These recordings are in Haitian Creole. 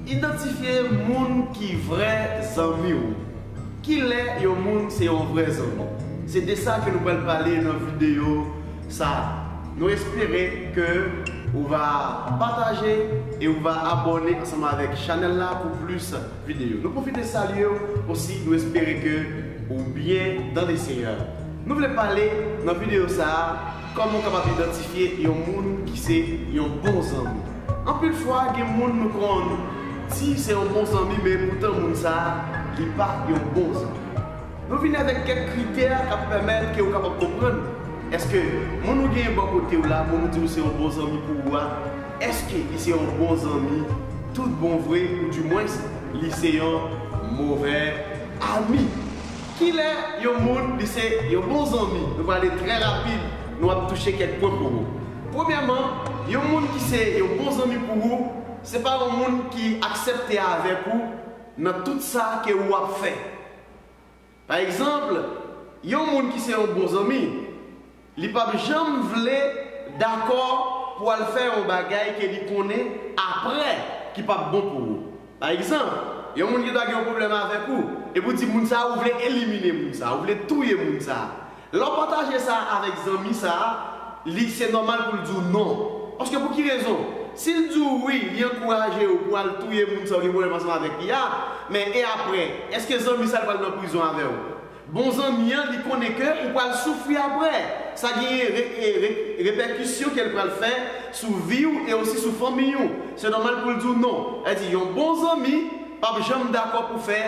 Idantifye moun ki vrè zanmi w. Kilè yon moun se yon vrè zanmi? Se de sa ke nou pral pale nan videyo sa a. Nou espere ke ou va pataje e ou va abòne ansanm avèk chanèl la pou plis videyo. Nou pwofite salye w osi, nou espere ke ou byen dan le Seyè. Nou vle pale nan videyo sa a. Kòman w kapab idantifye yon moun ki se yon bon zanmi? Anpil fwa gen moun nou konn di se yon bon zanmi men poutan moun sa a li pa yon bon zanmi. Nou vini avèk kèk kritè k ap pèmèt ke ou kapab konprann èske moun ou genyen bò kote w la, moun ou di ou se yon bon zanmi pou ou a, èske li se yon bon zanmi tout bon vre ou dimwens li se yon movè ami. Kilè yon moun li se yon bon zanmi? Nou prale trè rapid, nou ap touche kèk pwen pou ou. Premyèman, yon moun ki se yon bon zanmi pou ou, se pa yon moun ki aksepte avèk ou nan tout sa ke ou ap fè. Pa egzanp, yon moun ki se yon bon zanmi, Li pap janm vle dakò pou al fè yon bagay ke li konnen aprè ki pap bon pou ou. Pa egzanp, yon moun ki ta gen yon pwoblèm avèk ou, epi ou di moun sa a ou vle elimine moun sa a, ou vle touye moun sa a. Lè w pataje sa avèk zanmi sa a, li se nòmal pou l di w non. Paske pou ki rezon? Si l di w wi, li ankouraje ou pou al touye moun sa a ou gen pwoblèm ansanm avèk li a, men e aprè? Eske zanmi sa a li pral nan prizon avè w? Bon zanmi an li konnen ke ou pral soufri aprè, sa genyen repèkisyon kel pral fè sou viw e osi sou fanmiy ou, se nòmal poul diw non, èdi yon bon zanmi pap janm dakò pou fè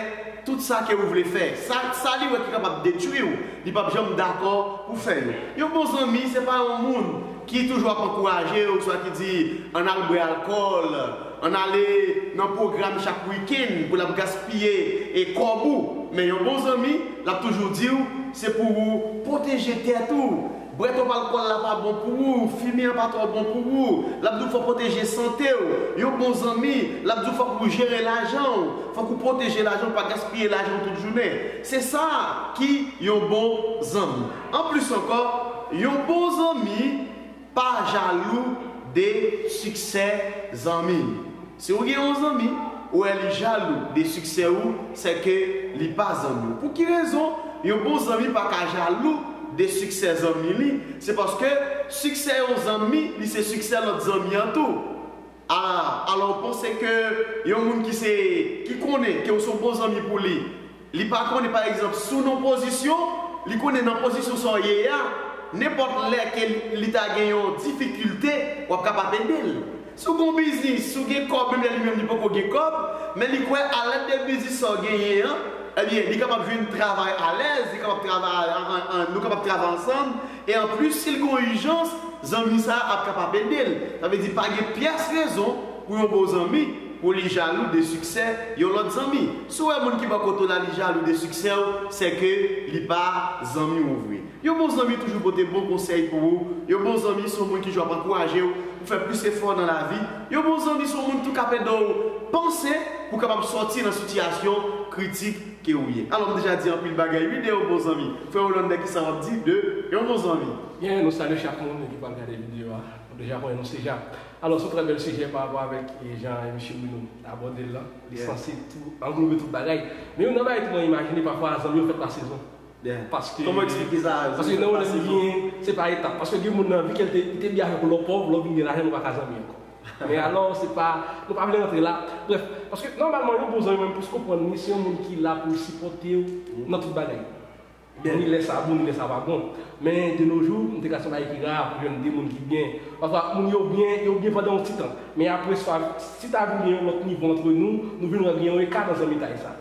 tout sa ke ou vle fè, sa sa li wè ki kapab detwiw li pap janm dakò pou fè yo, yon bon zanmi se pa yon moun ki toujou ap ankourajew swa ki di an al bwè alkòl, An ale nan pwogram chak wikenn pou lap gaspiye e kòb ou men yon bon zanmi lap toujou diw se pou ou pwoteje tèt ou bwè twòp alkòl la pa bon pou ou fimen an pa twò bon pou ou lap diw fò pwoteje santew yon bon zanmi lap diw fòk ou jere lajanw fòk ou pwoteje lajanw pa gaspiye lajanw tout jounen se sa ki yon bon zanmi anplis ankò yon bon zanmi Pa jalou de siksè zanmi. Si ou gen yon zanmi, ou wè li jalou de siksè ou, sè ke li pa zanmi ou. Pou ki rezon yon bon zanmi pa ka jalou de siksè zanmi li? Se paske siksè yon zanmi li se siksè lòt zanmi an tou. Aa alò ou panse ke yon moun ki se ki konnen ke ou son bon zanmi pou li, li pa konnen pa egzanp si w nan pozisyon, li konnen nan pozisyon sa w ye a, nenpòt lè ke li ta gen yon difikilte w ap kapab ede l. Si w gen yon biznis, si w gen kòb menm lè li menm li poko gen kòb, men li kwè a lèd de biznis sa w genyen an, ebyen li kapab jwenn travay alèz, li kapab travay nou kapab travay ansanm, E anplis si l gen yon ijans, zanmi sa a ap kapab ede l. Sa vle di pa gen pyès rezon pou yon bon zanmi pou li jalou de siksè yon lòt zanmi. Si w wè moun ki bò kote w la li jalou de siksè w, sèke li pa zanmi w vre. Yon bon zanmi toujou pote bon konsèy pou ou. Yon bon zanmi se yon moun ki toujou ap ankouraje w pou fè plis efò nan lavi. Yon bon zanmi se yon moun ki tou k ap ede w panse pou w kapab sòti nan sitiyasyon kritik. ke ou ye. Alò m deja di anpil bagay wi de yon bon zanmi. Frè Hollander kisa wap di de yon bon zanmi? Byen nou salye chak moun ki pral gade video a. Nou deja konnen nou se ja. Alò son trè bèl sijè pa rapò avèk jan Misye Bruno abòdel lan. Li sansib tou, anglobe tout bagay. Men yon nan bagay tou mwen imajine pafwa zanmi yo fèt pa sezon. Paske Kòman w eksplike sa a zanmi fèt pa sezon? Se pa etap. Paske gen moun nan vi ke li te byen avèk ou lè w pòv, lè w vin gen lajan nou paka zanmi ankò. Men alò, se pa, nou pa vle rantre la. Brèf, paske nòmalman yon bon zanmi mwen plis konprann li se yon moun ki la pou l sipòte w nan tout bagay. Ni lè sa bon ni lè sa pa bon. Men de no jou, m te ka se yon bagay ki ra pou jwenn 2 moun ki byen. Pafwa moun yo byen, yo byen pandan yon ti tan. Men apre sa, si ta vin gen yon lòt nivo antre nou, nou vin wè gen yon eka nan zanmitay sa.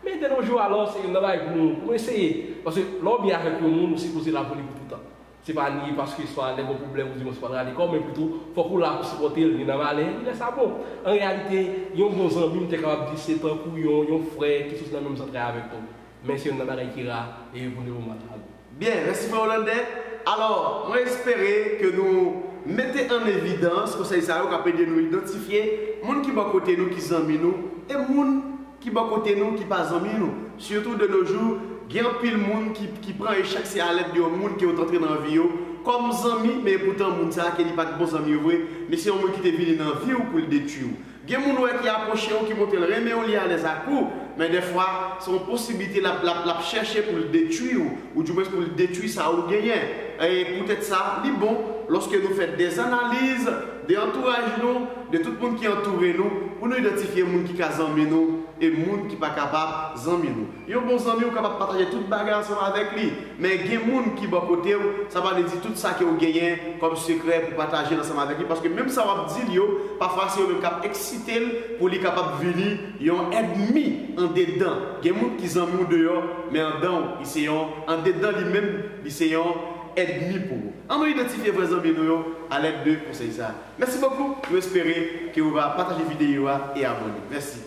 Men de no jou alò, se yon nan bagay pou nou, pou nou eseye. Paske lè w byen avèk yon moun, ou sipoze la pou li pou toutan. Se pa nye paske swa lè gen pwoblèm ou di mwen se pa rale kò men pito fòk ou la pou sipòte l ni nan malè ni lè sa bon. An reyalite, yon bon zanmi m te kapab di se tankou yon yon frè ki soti nan menm zantray avèk nou. Men se youn nan bagay ki ra e yo vouloe ou mal ale. Byen, mèsi frè Hollande. Alò, mwen espere ke nou mete an evidans konsèy sa yo k ap ede nou idantifye moun ki bò kote nou ki zanmi nou e moun Ki bò kote nou ki pa zanmi nou? Sitou de no jou, gen anpil moun ki ki pran echèk se a lèd de yon moun ke yo t antre nan vi yo kòm zanmi men epoutan moun sa a ke li pa t bon zanmi yo vre li se yon moun ki te vini nan vi w pou l detwi w. Gen moun ou wè ki apwoche w ki montre l renmen w li alèz ak ou men dèfwa se yon posiblite l ap l ap l ap chèche pou l detwi w ou diwens pou l detwi sa ou genyen e poutèt sa li bon lòske nou fè dèzanaliz de antouraj nou De tout moun ki antoure nou pou nou idantifye moun ki ka zanmi nou e moun ki pa kapab zanmi nou. Yon bon zanmi ou kapab pataje tout bagay ansanm avèk li, men gen moun ki bò kote ou, sa pa vle di tout sa ke ou genyen kòm sekrè pou pataje l ansanm avèk li paske menm sa wap di l yo pafwa se yo menm kap eksite l pou li kapab vini yon èdmi andedan gen moun ki zanmi w deyò men andan w li se yon andedan li menm li se yon èdmi pou ou. An nou idantifye vrè zanmi nou yo alèd de konsèy sa. Mèsi bokou, nou espere ke ou va pataje videyo a e abone. Mèsi.